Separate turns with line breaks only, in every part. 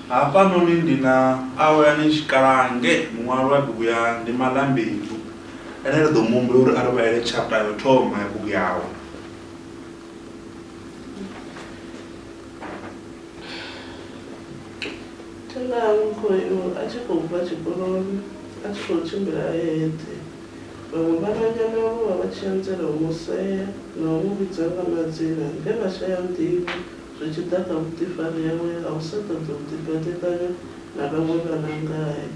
hafhanoni ndi na awelani tshikalange muṅwalo wa bugu ya ndi malambedu ene ri ḓo mu humbula uri a ri vhalele chapter yo thoma ya bugu yawe
thenga a tshi khou bva tshikoloni a tshi khou tshimbila eṱhe Vhaṅwe vhananyana vho vha vha tshi anzela u mu sea na u mu vhidza nga madzina nge vha shaya nḓivho zwi tshi ḓa kha vhuḓifari hawe ha u sa ṱoḓi u ḓifhaṱifhanya na vhaṅwe vhana ngae.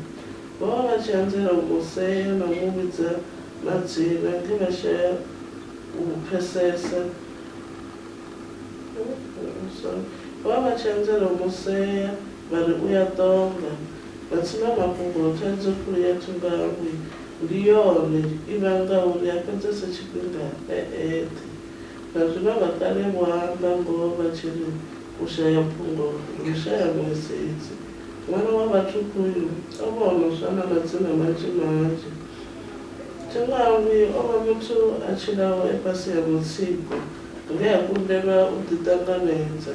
Vho vha vha tshi anzela u mu sea na u mu vhidza madzina nge vha shaya u pfesesa Vho vha vha tshi anzela u mu sea. Vha ri u ya ṱonga. Matsina mafhungo, Thaidzo khulu ya Thungahwi ndi yone i vhangaho uri a fhedzese tshifhinga e eṱhe. Vha zwi vhanga kale vho amba ngoho vha tshi ri, U shaya phungo ndi u shaya nḓisedzo. Ṅwana wa vhathukhu uyu o vha o no swa na madzina manzhi manzhi. Thungahwi o vha muthu a tshilaho e fhasi ha mutsiko nge a kundelwa u ḓiṱanganedza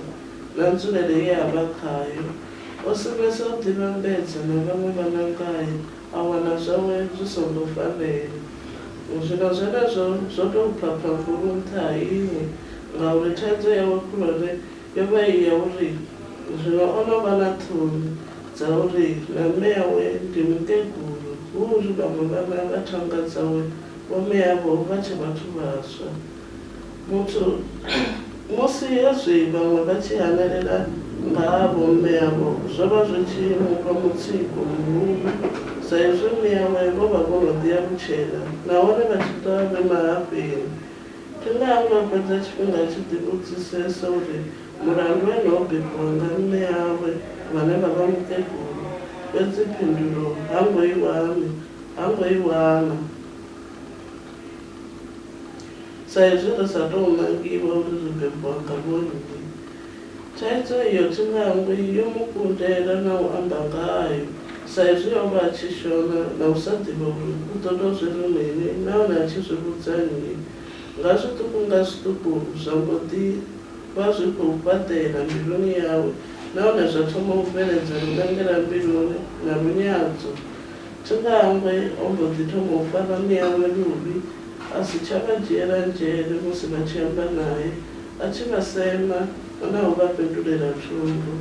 na nzulele ye a vha khayo. O sumbedza u ḓivhambedza na vhaṅwe vhanangayo a wana zwawe zwi songo fanela. Zwino zwenezwo zwo tou pha phambulo nṱha ha iṅwe, ngauri thaidzo yawe khulwane yo vha i ya uri zwino o no vha na ṱhoni dza uri na mme awe ndi mukegulu hu uri vhaṅwe vhana vha thanga dzawe vho mme avho vha tshe vhathu vhaswa. Muthu, Musi hezwi vhaṅwe vha tshi hanelela nga ha vhomme avho, zwo vha zwi tshi mu fha mutsiko muhulu sa izwi mme awe vho vha vho no ḓi alutshela nahone vha tshi ḓo vha vhe mahafheni. Tine ha ngo fhedza tshifhinga a tshi ḓivhudzisesa uri mulandu ene ho bebiwa nga mme awe vhane vha vha mukegulu, fhedzi phindulo ha ngo i wana. Ha ngo i wana. Sa izwi ri sa tou nangiwa uri ri bebwa nga vhonnyi, thaidzo iyo thi nangwi yo mu kundela na u amba ngayo sa izwi o vha a tshi shona na u sa ḓivha uri u ḓo tou zwi ri mini nahone a tshi zwi vhudza nnyi. Nga zwiṱuku nga zwiṱuku zwa mbo ḓi vha zwi khou fhaṱela mbiluni yawe nahone zwa thoma u bveledza lunangela-mbiluni na lunyadzo Tshikangwe o mbo ḓi thoma u fara miawe luvhi, a si tsha vha dzhiela nzhele musi vha tshi amba nae, a tshi vha sema na u vha fhendulela thundu.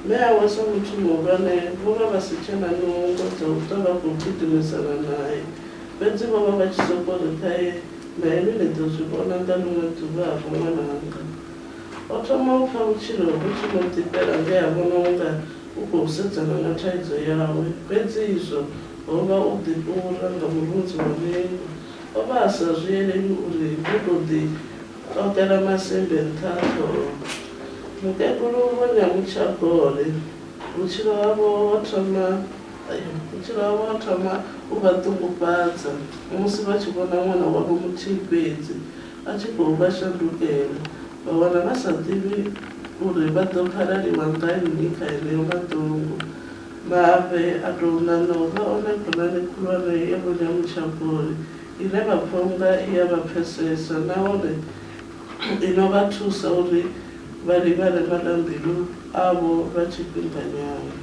Mme awe sa muthu muhulwane vho vha vha si tshe na nungo dza u ṱwa vha khou gidimisana nae, fhedzi vho vha vha tshi sokou ri, Ṱhae, na inwi ni ḓo zwi vhona nga ḽiṅwe ḓuvha-vho ṅwananga. O thoma u pfa vhutshilo vhu tshi mu ḓifhela nge a vhona u nga u khou sedzana na thaidzo yawe. Fhedzi izwo ho vha u ḓifhura nga murunzi wa vhengu. O vha a sa zwi elelwi uri vho tou ḓiṱoḓela masimbe nṱha ha ṱhoho. Mukegulu Vho Nyamutsha-Gole vhutshilo havho ho thoma vhutshilo havho ho thoma u vha ṱungufhadza musi vha tshi vhona ṅwana wavho muthihi fhedzi Vha tshi khou vha shandukela, vha wana vha sa ḓivhi uri vha ḓo phalaliwa nga nnyi kha heneyo maḓungu. Mafhe a tou ṋaṋa u vha one khonani khulwane ya Vho Nyamutshavhori ine vha pfa u nga i a vha pfesesa nahone i no vha thusa uri vha livhane maḽa-mbilu avho lwa tshifhinganyana.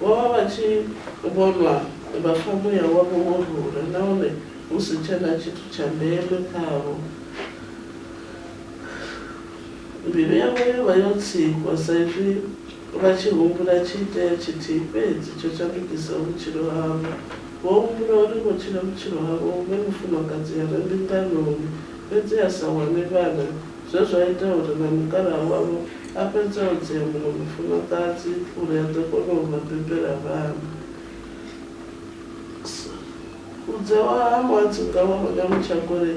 Vho vha vha tshi vhonwa vha pfa muya wavho wo rula nahone Hu si tshena tshithu tsha ndeme khavho. Mbilu yavho yo vha yo tsikwa sa izwi vha tshi humbula tshiitea tshithihi fhedzi tsho shandukisaho vhutshilo havho. Vho humbula uri vho tshila vhutshilo havho hu vhe mufumakadzi a re mbinganoni fhedzi a sa wane vhana zwe zwa ita uri na mukalaha wavho a fhedze o dzea muṅwe mufumakadzi uri a ḓo kona u vha bebela vhana. Vhudzewa ha Muadzunga wa Rona Muchakule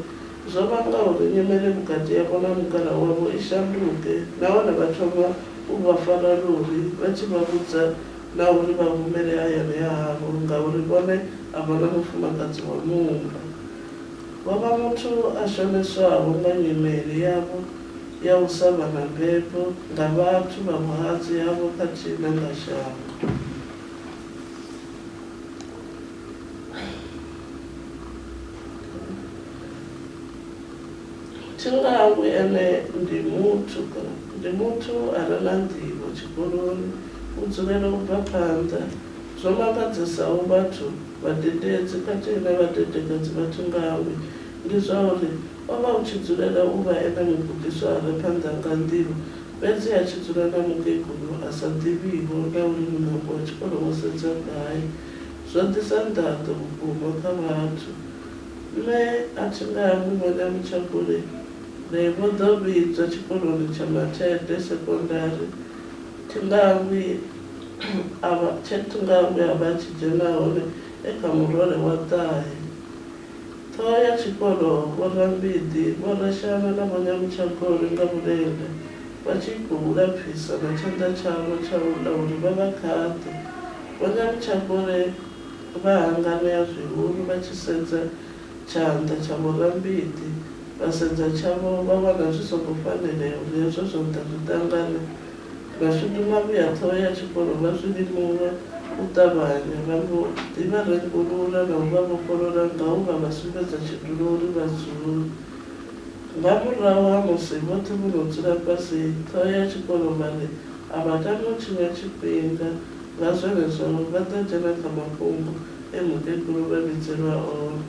zwo vhanga uri nyimele vhukati havho na mukalaha wavho i shanduke nahone vha thoma u vha fara luvhi vha tshi vha vhudza na uri vha humele hayani ha havho ngauri vhone a vha na mufumakadzi wa muumba. Vho vha muthu a shonedzwaho nga nyimele yavho ya u sa vha na mbebo nga vhathu vha vhuhadzi havho khathihi na nga shango. Thi nga hangwi ene ndi muthu, ndi muthu a re na nḓivho tshikoloni, u dzulela u bva phanḓa. Zwo mangadzesaho vhathu, vhadededzi khathihi na vhadedekedzi vha Thi nga hangwi ndi zwa uri o vha u tshi dzulela u vha ene mugudiswa a re phanḓa nga nḓivho fhedzi a tshi dzula na mukegulu a sa ḓivhiho na uri muṋango wa tshikolo wo sedza gai. zwa ḓisa nḓaḓo vhukuma kha vhathu. Nṋe a thi nga hangwi vhone Mutshabule nae vho ḓo vhidzwa tshikoloni tsha Mathede Sekondari thi nga hangwi a vha tshe thi nga hangwi a vha a tshi dzhena hone e kha murole wa ṱahe. Ṱhoho ya tshikolo Vho Rambiḓi, Vho Rashana na Vho Nyamutshakhole nga vhulenda vha tshi khou lapfisa na tshanḓa tshavho tsha u ḽa uri vha vha khaṱe. Vho Nyalutshakhole vha hanganea zwihulu vha tshi sedza tshanḓa tsha Vho Rambiḓi, vha sedza tshavho vha vhona zwi songo fanelea uri hezwo zwanḓa zwi ṱangane. Vha shuduma vhuya ṱhoho ya tshikolo vha zwi limuwa u ṱavhanya, vha mbo ḓi vha rengulula na u vha vhofholola nga u vha vha sumbedza tshidulo uri vha dzule. Nga murahu ha musi vhoṱhe vho no dzula fhasi, ṱhoho ya tshikolo vha ri, A vha tami u tshinya tshifhinga, nga zwenezwo vha ḓo dzhena kha mafhungo e mukegulu vha vhidzelwa one.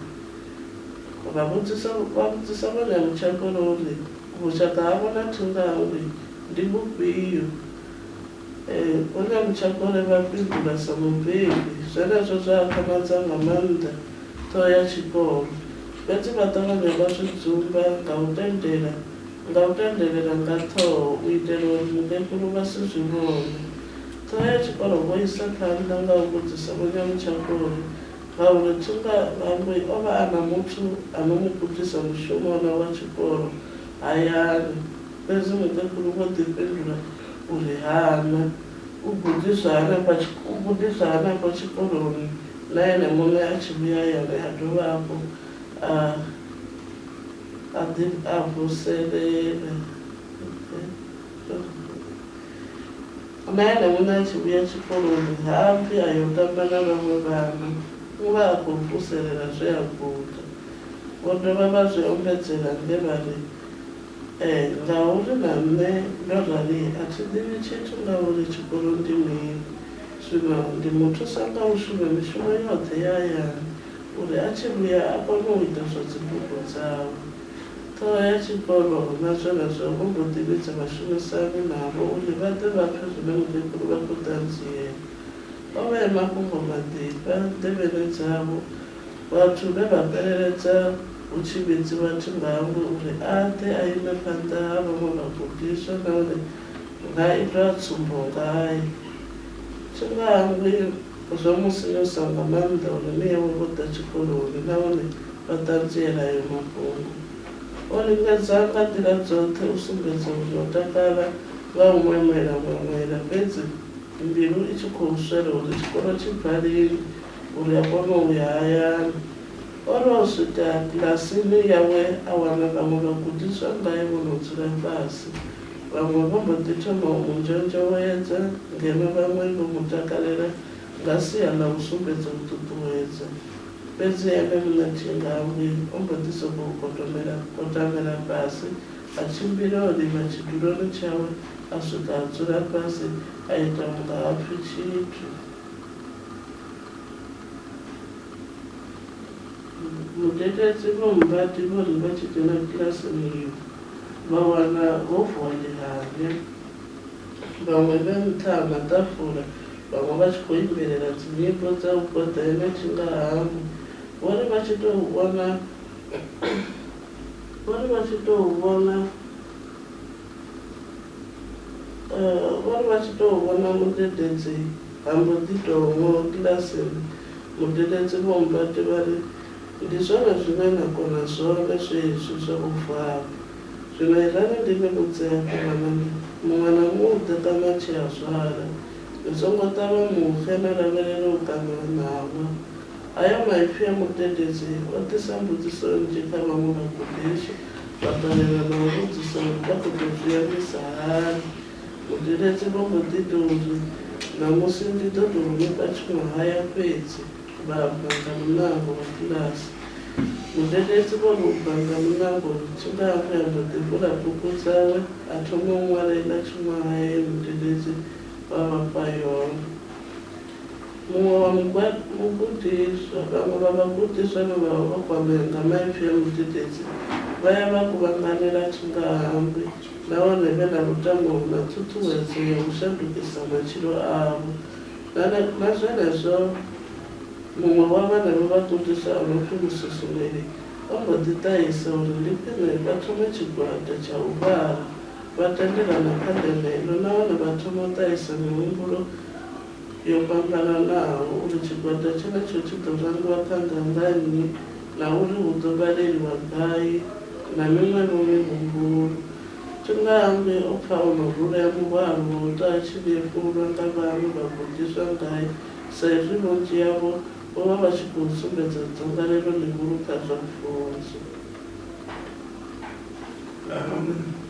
Vha vhudzisa vha vhudzisa vho Nyamutshekolo uri vhushaka havho na Thungangwi ndi vhufhio. E, vho Nyamutshekole vha fhindula sa mubebi. Zwenezwo zwa akhamadza nga maanḓa ṱhoho ya tshikolo. Fhedzi vha ṱavhanya vha zwi dzumba nga u tendela nga u tendelela nga ṱhoho u itela uri vhukegulu vha si zwi vhone. Ṱhoho ya tshikolo vho isa phanḓa nga u vhudzisa Vho Nyamutshakhoni ngauri Thunga Vhangwi o vha a na muthu a no mu gudisa mushumo wona wa tshikolo hayani, fhedzi mukegulu vho ḓi fhindula uri ha na, u gudiswa hanefha u gudiswa hanefho tshikoloni na ene muṋe a tshi vhuya hayani a dovha hafhu a. A ḓi a vuselele. Na ene muṋe a tshi vhuya tshikoloni ha bvi a yo tamba na vhaṅwe vhana, u vha a khou vuselela zwe a guda. Vho dovha vha zwi ombedzela nge vha ri, Ee, ngauri na nṋe ndo rali a thi ḓivhi tshithu nga uri tshikolo ndi mini. Zwino ndi mu thusa nga u shuma mishumo yoṱhe ya hayani, uri a tshi vhuya a kone u ita zwa dzibugu dzawe. Ṱhoho ya tshikolo hu na zwenezwo vho mbo ḓi vhidza vhashumisani navho uri vha ḓe vha pfe zwine mukegulu vha khou ṱanziela. O vhea mafhungo maḓifha nḓevheni dzavho vhathu vhe vha fheleledza hu tshi vhidziwa Thingauri uri a ḓe a ime phanḓa ha vhaṅwe vhagudiswa nahone hu nga itwa tsumbo ngae. Thingauri. Zwa mu sinyusa nga maanḓa uri mme awe vho ḓa tshikoloni nahone vha ṱanziela ayo mafhungo. O lingedza nga nḓila dzoṱhe u sumbedza uri o takala nga u ṅweṅwela ṅweṅwela fhedzi mbilu i tshi khou swela uri tshikolo tshi bva lini uri a kone u ya hayani. O ri o swika kilasini yawe a wana vhaṅwe vhagudiswa ngae vho no dzula fhasi. Vhaṅwe vho mbo ḓi thoma u mu nzhonzhowedza, ngeno vhaṅwe vho mu takalela nga sia ḽa u sumbedza u ṱuṱuwedza. Fhedzi ene muṋe Thingavhwi o mbo ḓi sokou kotomela kotamela fhasi, a tshimbila o livha tshiduloni tshawe a swika a dzula fhasi a ita u nga ha pfi tshithu. Mudededzi vho mmbadi vho ri vha tshi dzhena kilasini iyo vha wana ho vuwa ḽihavhe, vhaṅwe vhe nṱha ha maḓafula, vhaṅwe vha tshi khou imbelela dzinyimbo dza u goḓela tshingahangwi. Vho ri vha tshi tou vhona, vho ri vha tshi tou vhona, vho ri vha tshi tou vhona mudededzi ha mbo ḓi tou ngo kilasini. Mudededzi Vho Mbati vha ri, Ndi zwone zwine na kona zwone zwezwi zwa u vala. Zwino irani ndi ni vhudze hafhu vhanoni, muṅwe na muḓe ṱanu a tshi a zwala, ni songo ṱavha muxe ni lavhelele u kaṋiwa ṋawa. Hayo maipfi a mudededzi o ḓisa mbudziso nnzhi kha vhaṅwe vhagudiswa, vha ṱalela na u vhudzisa uri vha ḓo tou zwi ambisa hani. Muḓeledzi vho mbo ḓi tou ri, Ṋamusi ndi ḓo tou ni fha tshiṅwahaya fhedzi, vha bva nga muṋango wa bulasi. Muḓeledzi vho ri u bva nga muṋango, Tshilahapfi a mbo ḓi vula bugu dzawe a thoma u ṅwala iḽa tshiṅwahaya ye muḓeledzi wa vha fha yone. Muṅwe wa mugudiswa, vhaṅwe vha vhagudiswa vhe vha vha vho kwamea nga maipfi a muḓeledzi vha ya vha kuvhanganela tshingahanngwi nahone vhe na lutamo na ṱhuṱhuwedzo ya u shandukisa matshilo avho. Nga zwenezwo, muṅwe wa vhenevho vhagudiswa a no pfi Mususumeli o mbo ḓi ṱahisa uri ndi khwine vha thome tshigwada tsha u vhala vha tendelana kha ndeme ino nahone vha thoma u ṱahisa mihumbulo yo fhambananaho uri tshigwada tshenetsho tshi ḓo rangiwa phanḓa nga nnyi na uri hu ḓo vhaleliwa gai na miṅwevho mihumbulo. Tshingayambe o pfa o no rulea muhwalo wa u tou a tshi nyefulwa nga vhaṅwe vhagudiswa ngae sa izwi vhunzhi havho vho vha vha tshi khou sumbedza dzangalelo ḽihulu kha zwa pfunzo.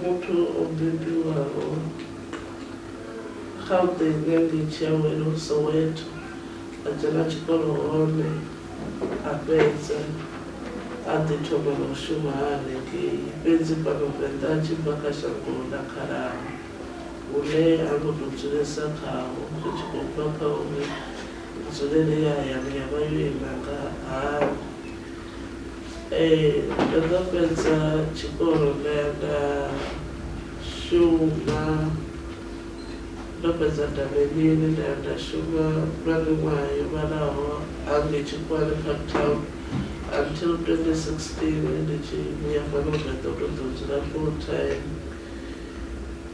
Muthu o bebiwaho Gauteng ngei Tshiawelo, Soweto, a dzhena tshikolo hone a fhedza a ḓi thoma na u shuma a hanengei. Fhedzi fhano Venḓa a tshi bva kha shango ḽa Khalaṅwe hune ha ngo tou dzulesa khaho, ri tshi khou bva kha uri nzulele ya hayani ya vha yo ima nga hani, Ee, ndo no fhedza tshikolo nda ya nda shuma, ndo fhedza Ndavhelini nda ya nda shuma lwa miṅwaha yo vhalaho hangei Tshikhuwani Parktown until 2016 ndi tshi vhuya fhano Venḓa u to ḓo dzula full time.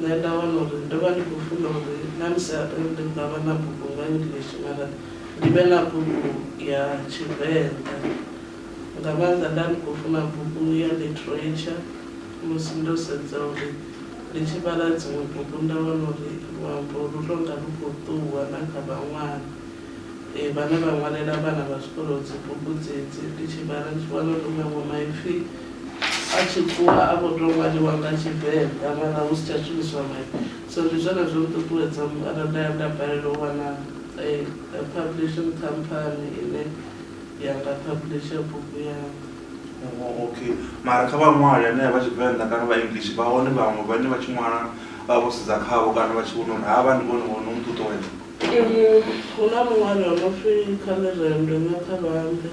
Nṋe nda wana uri ndo vha ndi khou funa uri na musi arali ndi nga vha na bugu nga English mara ndi vhe na bugu ya Tshivenḓa. Nga maanḓa nda ndi khou funa bugu ya Literature musi ndo sedza uri ndi tshi vhala dziṅwe bugu nda wana uri luambo lu tou nga lu khou ṱuwa na kha vhaṅwali vhane vha ṅwalela vhana vha zwikolo dzibugu dzedzi. Ndi tshi vhala ndi tshi wana uri maṅwe maipfi A tshi ṱuwa a vho tou ṅwaliwa nga Tshivenḓa mara hu si tsha shumiswa maipfi. So ndi zwone zwo nṱuṱuwedza mara nda ya nda balelwa u wana publishing company ine ya nga publisher bugu yanga. Oh okay,
mara kha vhaṅwali hanea vha Tshivenḓa kana vha English vha hone vhaṅwe vhane vha tshi ṅwala vha vho sedza khavho kana vha tshi vhona uri havha ndi vhone vho no nṱuṱuwedza?
Hu na muṅwali o no pfi Khaḽirendwe Nyaṱhavhanḓe.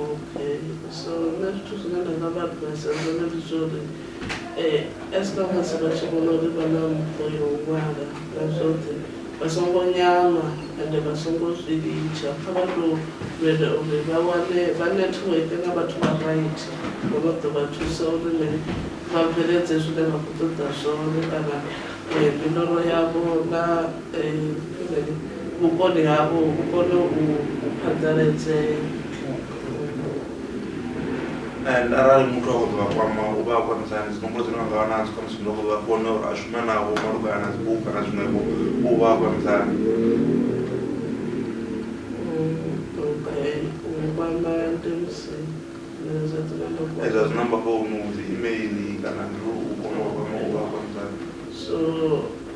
Okay so nṋe zwithu zwine nda nga vha advise zwone ndi zwa uri as long as vha tshi vhona uri vha na mpho ya u ṅwala na zwoṱhe vha songo nyama ende vha songo zwi litsha kha vha to ita uri vha wane vha network nga vhathu vha right vho no ḓo vha thusa uri mini vha bveledze zwine vha khou ṱoḓa zwone kana miloro yavho na vhukoni havho vhu kone u phaḓaladzea.
and arali muthu a khou ḓo vha kwama u vha a khwaṱhisa hani dzinomboro dzine vha nga vha nadzo khamusi muthu a khou ḓo vha fhone uri a shume navho malugana na dzibugu kana zwiṅwevho u vha a khwaṱhisa hani
edza dzinamba
founu dzi email kana ndi u kona u vha kwama u vha a khwaṱhisa hani so